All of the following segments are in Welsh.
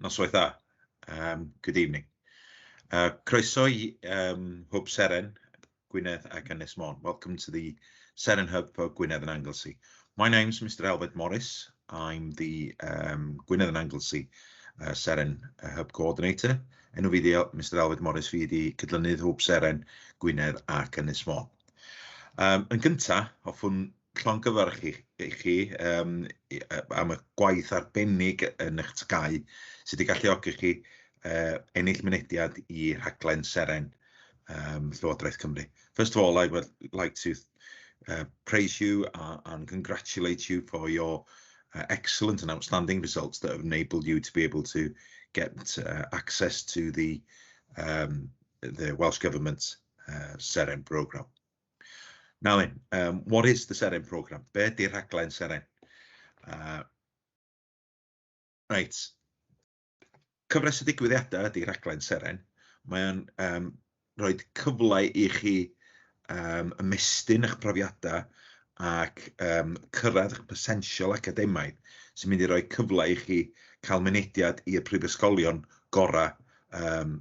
Noswaith dda. Yym good evening. Yy croeso i yym Hwb Seren Gwynedd ac Ynys Môn. Welcome to the Seren Hub for Gwynedd and Anglesey. My name's Mr Elfed Morris. I'm the um, Gwynedd and Anglesey uh, Seren uh, Hub Coordinator. Enw fi di Mr Elfed Morris, fi di cydlynydd Hwb Seren Gwynedd ac Ynys Môn. Um, yn gyntaf, hoffwn llongyfarch i i chi yym i- yy am y gwaith arbennig yn eich TGAU sy 'di galluogi chi yy ennill mynediad i rhaglen Seren yym Llywodraeth Cymru. First of all I would like to yy praise you a- and congratulate you for your excellent and outstanding results that have enabled you to be able to get yy access to the yym the Welsh Government yy Seren programme. Nawr then, um, what is the Seren programme? Be ydy'r rhaglen Seren? Uh, right. Cyfres y digwyddiadau ydy rhaglen Seren. Mae'n um, rhoi cyfle i chi um, ymestyn eich profiadau ac um, cyrraedd eich potensial academaidd sy'n mynd i roi cyfle i chi cael mynediad i'r prifysgolion gorau um,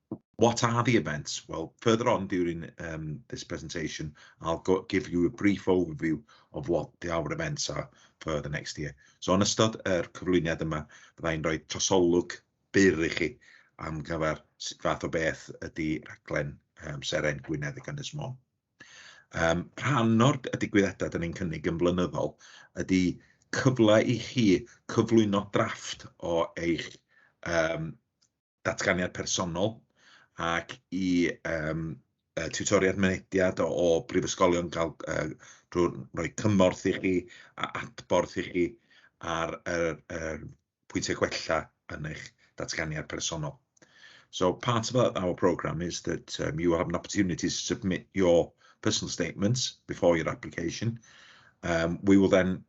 What are the events? Well, further on during um, this presentation, I'll go, give you a brief overview of what the, our events are for the next year. So, yn ystod yr cyflwyniad yma, byddai'n rhoi trosolwg byr i chi am gyfer sut fath o beth ydy rhaglen um, Seren Gwynedd y Gynnes Mon. Um, rhan o'r digwyddiadau dyn ni'n cynnig yn flynyddol ydy cyfle i chi cyflwyno drafft o eich um, datganiad personol ac i yym y tiwtoriaid mynediad o o brifysgolion gael yy drwy roi cymorth i chi a adborth i chi ar yr yr pwyntiau gwella yn eich datganiad personol. So part of our our programme is that yym you have an opportunity to submit your personal statements before your application, yym we will then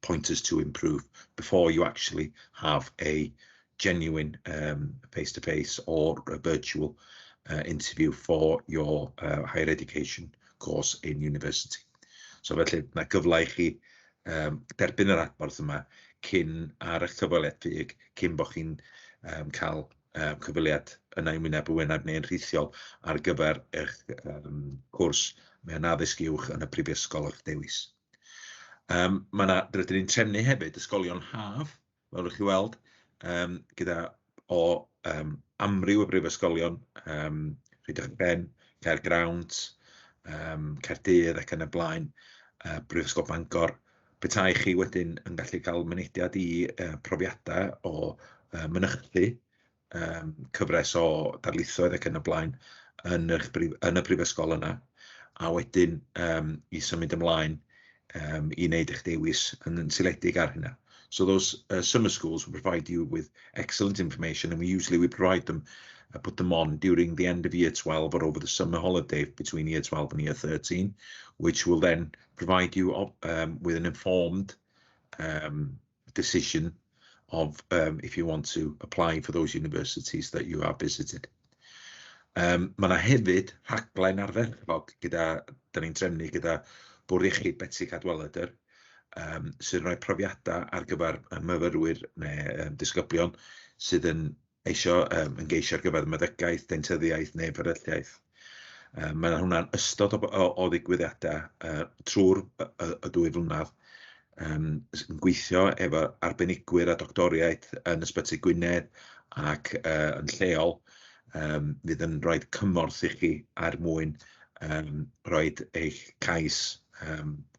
pointers to improve before you actually have a genuine face-to-face or a virtual interview for your higher education course in university. So felly, mae gyfle i chi yym derbyn yr adborth yma cyn ar eich cyfweliad Ffug, cyn bod chi'n yym cael yym cyfweliad yna yn wyneb yn wyneb neu'n rhithiol ar gyfer eich yym cwrs mewn addysg uwch yn y prifysgol o'ch dewis. Yym mae 'na... rydyn ni'n trefnu hefyd ysgolion haf, fel dach chi'n weld, yym gyda... o yym amryw o brifysgolion, yym Rhydychen, Caergrawnt, yym Caerdydd ac yn y blaen, yy Brifysgol Bangor, petai chi wedyn yn gallu cael mynediad i yy profiadau o yy mynychu yym cyfres o darlithoedd ac yn y blaen yn yr brif- yn y brifysgol yna, a wedyn yym i symud ymlaen yym i wneud eich dewis yn yn seiliedig ar hynna. So those yy summer schools will provide you with excellent information and we usually we provide them and put them on during the end of year twelve or over the summer holiday between year twelve and year thirteen which will then provide you yym with an informed yym... decision of if you want to apply for those universities that you have visited. Yym mae 'na hefyd rhaglen ardderchog gyda... dan ni'n trefnu gyda Bwrdd Iechyd Betsi Cadwaladr, yym sy'n rhoi profiadau ar gyfer y myfyrwyr neu yym disgyblion sydd yn eisio yym ymgeisio ar gyfer meddygaeth, deintyddiaeth neu fferylliaeth, yym mae hwnna'n ystod o b- o o ddigwyddiadau yy trwy'r y y y dwy flynedd, yym yn gweithio efo arbenigwyr a doctoriaid yn Ysbyty Gwynedd ac yy yn lleol, yym fydd yn rhoi cymorth i chi er mwyn yym rhoid eich cais yym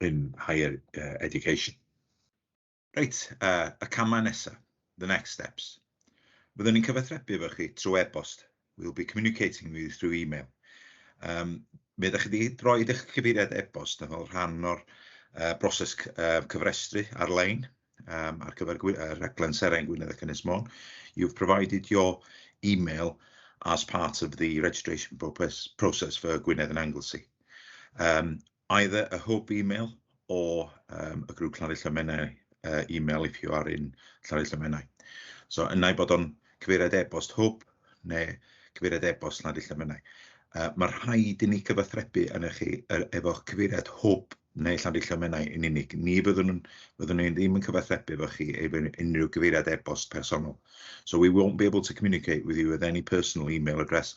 in higher education. Reit, y camau nesaf, the next steps. Byddwn ni'n cyfathrebu efo chi trwy e-bost, we'll be communicating with you through email. Um, mi ydych chi wedi rhoi eich cyfeiriad e-bost yn fel rhan o'r uh, broses uh, cyfrestru ar-lein um, ar gyfer uh, rhaglen Seren Gwynedd ac Ynys Môn. You've provided your email as part of the registration process for Gwynedd and Anglesey. Um, Either a hwb email or yym y grŵp Llafur Llymenau yy email if you are in Llafur Llymenau. So un ai bod o'n cyfeiriad e-bost hwb neu cyfeiriad e-bost Llafur Llymenau. Yy ma' rhaid i ni gyfathrebu arnoch chi yy efo cyfeiriad hwb neu Llafur Llymenau yn unig. Ni fyddwn yn... fyddwn ni ddim yn cyfathrebu efo chi efo unrhyw gyfeiriad e-bost personol. So we won't be able to communicate with you with any personal email address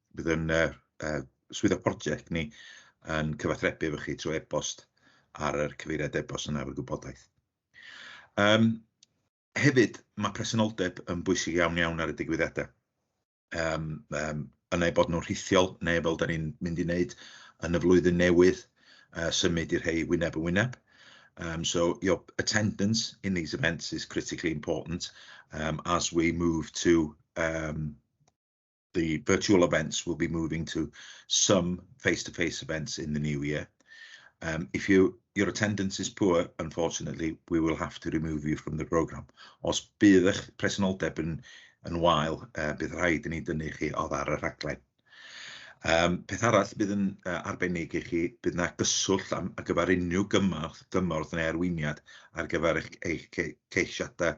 Bydd ein yy yy swyddog project ni yn cyfathrebu efo chi trwy e-bost ar yr cyfeiriad e-bost yna efo'r gwybodaeth. Yym hefyd, ma' presenoldeb yn bwysig iawn iawn ar y digwyddiada. Yym yym yna eu bod nhw'n rhithiol neu fel 'da ni'n mynd i wneud yn y flwyddyn newydd yy symud i'r rhei wyneb yn wyneb. Yym so your attendance in these events is critically important yym as we move to yym the virtual events will be moving to some face-to-face events in the new year. If your attendance is poor, unfortunately, we will have to remove you from the programme. Os bydd eich presenoldeb yn wael, bydd rhaid i ni dynnu chi oddi ar y rhaglen. Peth arall bydd yn arbennig i chi, bydd yna gyswllt ar gyfer unrhyw gymorth neu arweiniad ar gyfer eich ceisiadau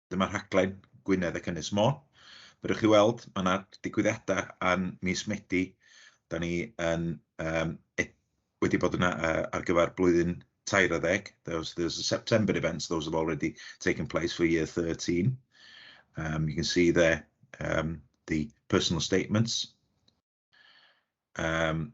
Dyma rhaglen Gwynedd ac Ynys Môn. Fel rwy'ch chi weld, mae yna digwyddiadau yn mis Medi. Da ni yn yym e- wedi bod yna yy ar gyfer blwyddyn tair ar ddeg. There was there was a September events, those have already taken place for year 13. Um you can see there um the personal statements. Um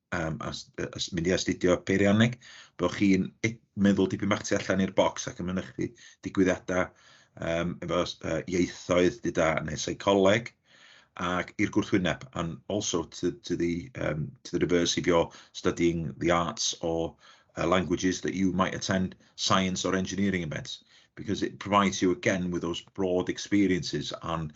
yym as- yy as- mynd i astudio peirianneg, bo' chi'n e- meddwl dipyn bach tu allan i'r bocs ac yn mynychu digwyddiadau yym efo s- yy ieithoedd, deuda da, neu seicoleg, ac i'r gwrthwyneb, and also to to the yym to the reverse if you're studying the arts or yy languages that you might attend science or engineering events, because it provides you again with those broad experiences and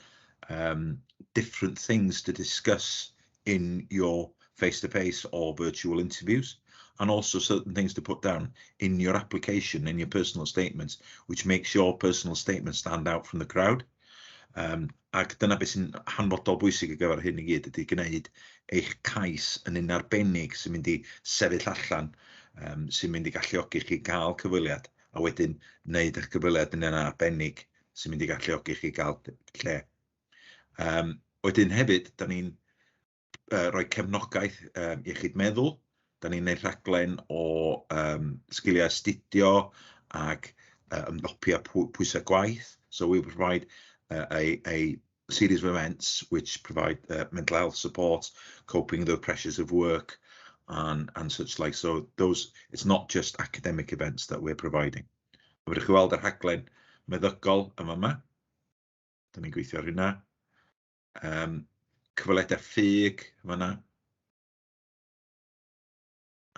yym different things to discuss. in your face to face or virtual interviews and also certain things to put down in your application, in your personal statements, which makes your personal statement stand out from the crowd. Um, ac dyna beth sy'n hanfodol bwysig ar gyfer hyn i gyd, ydy gwneud eich cais yn un arbennig sy'n mynd i sefyll allan, um, sy'n mynd i galluogi chi gael cyfweliad, a wedyn wneud eich cyfweliad yn un arbennig sy'n mynd i galluogi chi gael lle Yym wedyn hefyd, dan ni'n yy rhoi cefnogaeth yym iechyd meddwl, dan ni'n wneud rhaglen o yym sgiliau astudio ac yy ymdopiau pwy- pwysau gwaith, so we provide a a series of events which provide yy mental health support, coping with the pressures of work and and such like so those it's not just academic events that we're providing. Fedrwch chi weld y rhaglen meddygol yn fan'ma. Dan ni'n gweithio ar hynna. Yym cyfweledau ffug yn fan'na.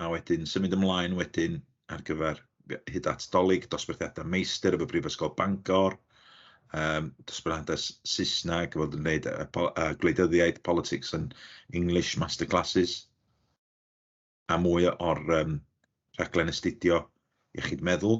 A wedyn symud ymlaen wedyn ar gyfer hyd at Dolig, dosbarthiadau meistr efo Brifysgol Bangor, yym dosbarthiadau S- Saesneg fel dwi'n dweud, y po- y gwleidyddiaeth, politics and English masterclasses, a mwy o'r yym rhaglen astudio iechyd meddwl.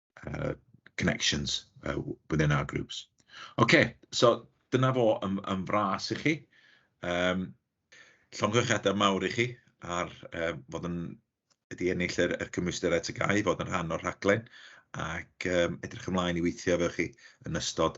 yy connections yy within our groups. Ocê, so dyna fo yn yn fras i chi. Yym llongyfarchiadau mawr i chi ar yy fod yn... wedi ennill yr y cymwysterau TGAU i fod yn rhan o'r rhaglen, ac yym edrych ymlaen i weithio efo chi yn ystod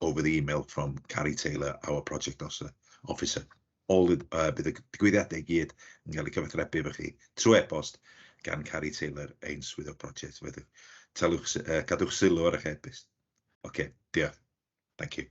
over the email from Carrie Taylor, our project officer, officer. All the, uh, bydd y digwyddiadau i gyd yn cael eu cyfathrebu efo chi trwy e-bost gan Carrie Taylor, ein swyddog project. Felly, talwch, uh, cadwch sylw ar eich e-bost. Oce, okay, diolch. Thank you.